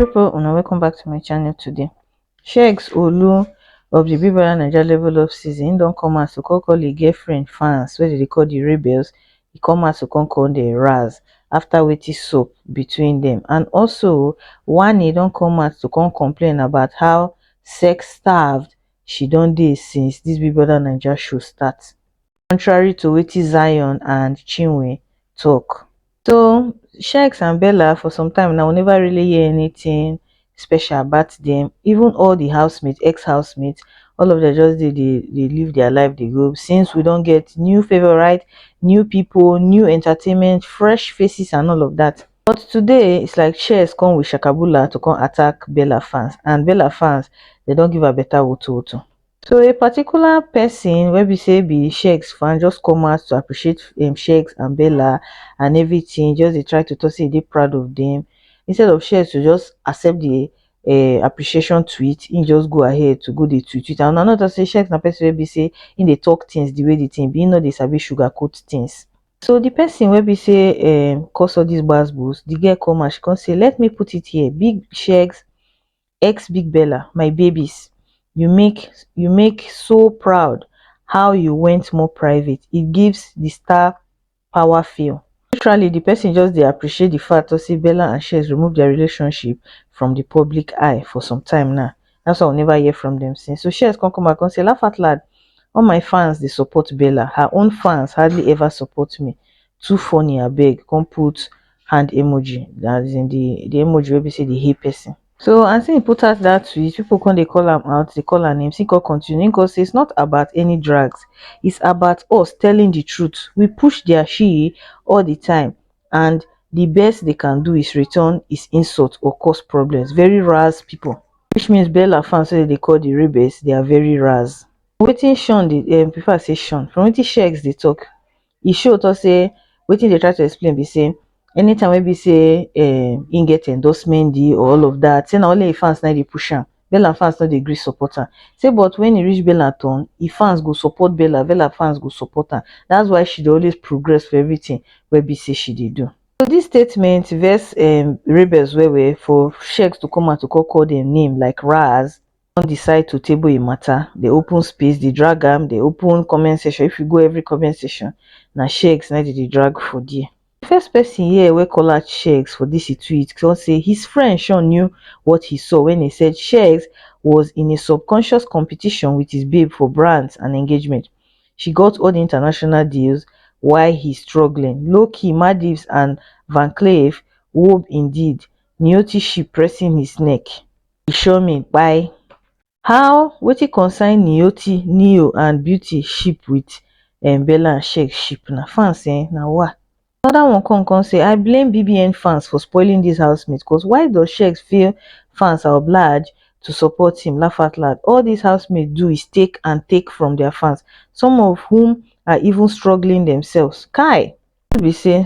people una welcome back to my channel today sheiks olu of the big brother naija level up season he don come out to call call him girlfriend fans wey dey call the rebels He come out to come call the raz after wetin sup between them, and also one he don come out to come complain about how sex starved she don dey since this big brother naija show start contrary to wetin zion and chinwe tok so sheikh and bello for some time now we neva really hear anytin special about dem even all di housemates ex housemates all of dem just dey dey live dia life dey go since we don get new favourite new pipo new entertainment fresh faces and all of dat but today is like sheikh come with shakabula to come attack bella fans and bella fans dem don give am beta wotowoto. So a particular person wey be say be Sheggz fan just come out to appreciate um, Sheggz and Bella and everything, just dey try to talk say e dey proud of them. Instead of Sheggz to just accept the uh, appreciation tweet, he just go ahead to go dey tweet tweet. And another say Sheggz na person wey be say he dey talk things the way the thing be, he no dey sabi sugarcoat things. So the person wey be say um, cause all these gbasgbos, the girl come out, she come say, let me put it here, big Sheggz xbiggbella my babies you make you make so proud how you went more private it gives the star power feel literally the person just dey appreciate the fact to say bella and shears remove their relationship from the public eye for some time now that's why we never hear from them since so shears come come back and say laugh out loud all my fans they support bella her own fans hardly ever support me too funny abeg come put hand emoji that is in the the emoji wey be say dey hate person so as he put out that tweet people come dey call am out dey call am names he come continue he come say it's not about any drags it's about us telling the truth we push their shee all the time and the best they can do is return is insult or cause problems very raz people which means bella fans wey dem dey call the rebels they are very raz wetin sean dey um prefer say sean from wetin shegs dey talk e show talk say wetin dey try to explain be say anytime wey be say um, im get endorsement deal or all of that say na only im fans na dey push am bella fans no dey gree support am say but when e reach bella turn im fans go support bella bella fans go support am that's why she dey always progress for everything wey be say she dey do so this statement vex um rebels well well for shex to come out to come call dem name like raz don decide to table a matter, dey open space, dey drag am, dey open comment section. If you go every comment section, na Sheggz na im dem dey drag for there. The first person here wey call out Sheggz for this e tweet come say his friend Sean knew what he saw when he said Sheggz was in a subconscious competition with his babe for brands and engagement. She got all the international deals while he's struggling. Low key, Madivs and Van Cleef wob indeed, Nioti ship pressing his neck. e sure me kpai how wetin concern niyoti nio and beauty ship wit um bella and shek ship na fans um na wa anoda one com com say i blame bbn fans for spoiling dis housemate cos why does shek feel fans are obliged to support him laughoutloud all dis housemates do is take and take from dia fans some of whom are even struggling demselves kai no be say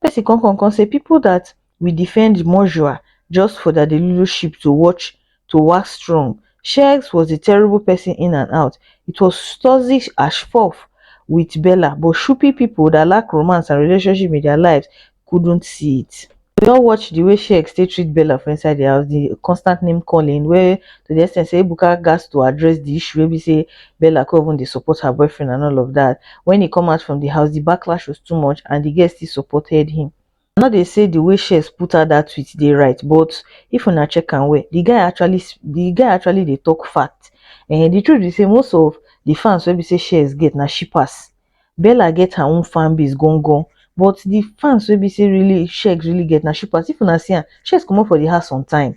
pesin kon kon kon sey pipol dat wi difend mojua just for dia deluluship to watch to wax strong sheggz was a terrible pesin in and out it was toxic as fuff wit bella but shupi pipol dat lack romance and relationship in dia lives kudnt see it. Wi all watch di way sheggz take treat bella for inside di house di konstant name kolin wey to di extent sey ebuka gatz to address di issue wey bi sey bella kon even dey support her boyfriend and all of dat. When he come out from the house, the backlash was too much and the girls still supported him. I no dey say the way Shez put out that tweet dey right, but if una check am well, the guy actually the guy actually dey talk fact. Eh, the truth be say most of the fans wey be say Shez get na shippers. Bella get her own fan base gangan, but the fans wey be say really Shez really get na shippers. If una see am, Shez comot for the house on time.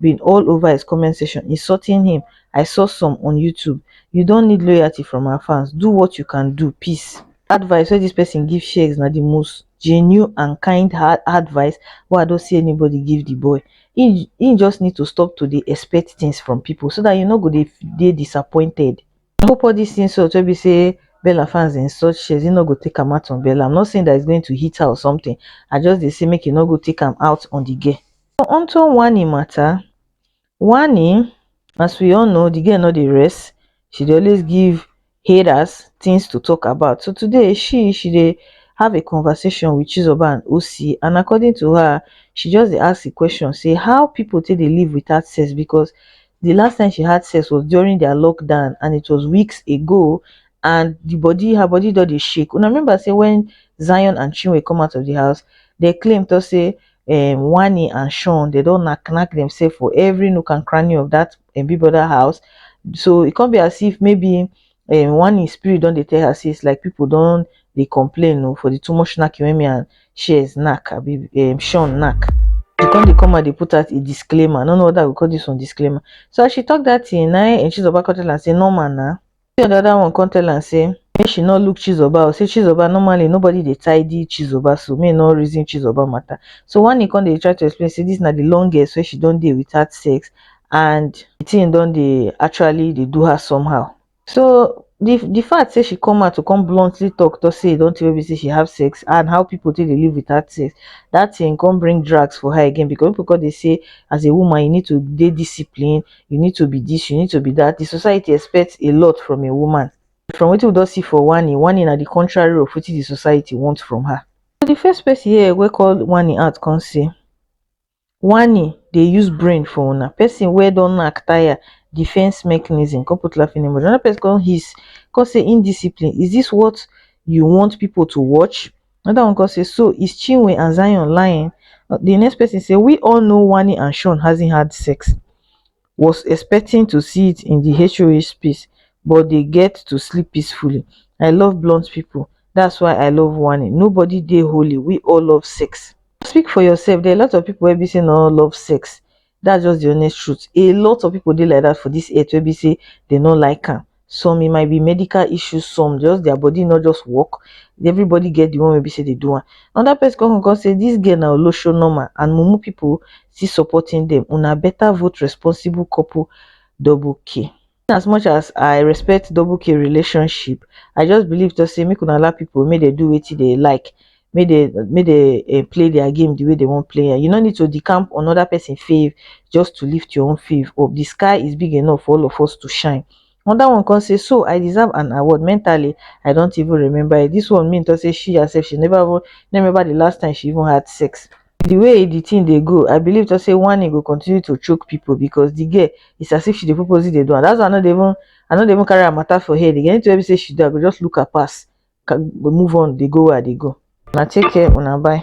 bin all ova his comment section insulting him i saw some on youtube you don need loyalty from our fans do what you can do peace advice wey dis pesin give sheggz na di most genuine and kind heart advice wey i don see anybody give di boy he he just need to stop to dey expect things from pipo so dat he no go dey dey disappointed I hope all this insult will be say Bella fans in such shares, you no go take am out on Bella. I'm not saying that it's going to hit her or something. I just they say make you no go take am out on the girl. So onto Wani matter. Wani, as we all know, the girl not the rest. She dey always give haters things to talk about. So today she she they have a conversation with Chizoba and OC, and according to her, she just asked the question, say how people take they live without sex because di last time she had sex was during dia lockdown and it was weeks ago and di bodi her bodi don dey shake una remember say wen zion and chinwe come out of di house dem claim tok say um wanni and shawn dem don knack knack demsef for every nook and cranny of dat um big brother house so e come be as if maybe um one im spirit don dey tell her say it's like people don dey complain oh for the too much knacking wey me and Shears knack abi um Sean knack. She come dey come out dey put out a disclaimer. I no know whether I go call this one disclaimer. So as she talk that thing, na im Chizoba come tell am say normal na. The other one come tell am say make she no look Chizoba o say Chizoba normally nobody dey tidy Chizoba so make e no reason Chizoba matter. So Wani come dey try to explain say this na the longest wey she don dey without sex and the thing don dey actually dey do her somehow so the the fact say she come out to come bluntly talk talk say e don tey wey be say she have sex and how people take dey live without sex that thing come bring drags for her again because people come dey say as a woman you need to dey discipline you need to be this you need to be that the society expects a lot from a woman from wetin we don see for Wani Wani na the contrary of wetin the society want from her so the first person here wey call Wani out come say Wani dey use brain for una, person wey don knack tire defense mechanism come put laughing emoji, another person come hiss come say indiscipline is this what you want people to watch? another one come say so is Chinwe and Zion lying? the next person say we all know Wani and Shawn hasn't had sex was expecting to see it in di HOH space but dey get to sleep peacefully. I love blunt people that's why I love Wani. Nobody dey holy, we all love sex. Speak for yourself, there are a lot of people wey be say no love sex, that's just the honest truth. A lot of people dey like that for this earth wey be say they no like am. some e might be medical issues some just their body no just work everybody get the one wey be say they do one another person come come say this girl na olosho normal and mumu people still supporting them una better vote responsible couple double k as much as i respect double k relationship i just believe to say make una allow people make they do wetin they like make dey make dey um play their game the way they want play am you no need to decamp on other person fave just to lift your own fave up the sky is big enough for all of us to shine another one come say so I deserve an award mentally I don't even remember it this one mean talk say she herself she never even no remember the last time she even had sex the way the thing dey go I believe talk say one e go continue to choke people because the girl is as if she dey purposely dey do am that's why I no dey even I no dey even carry her matter for head again anything wey be say she do I go just look her pass move on dey go where i dey go una take care una bye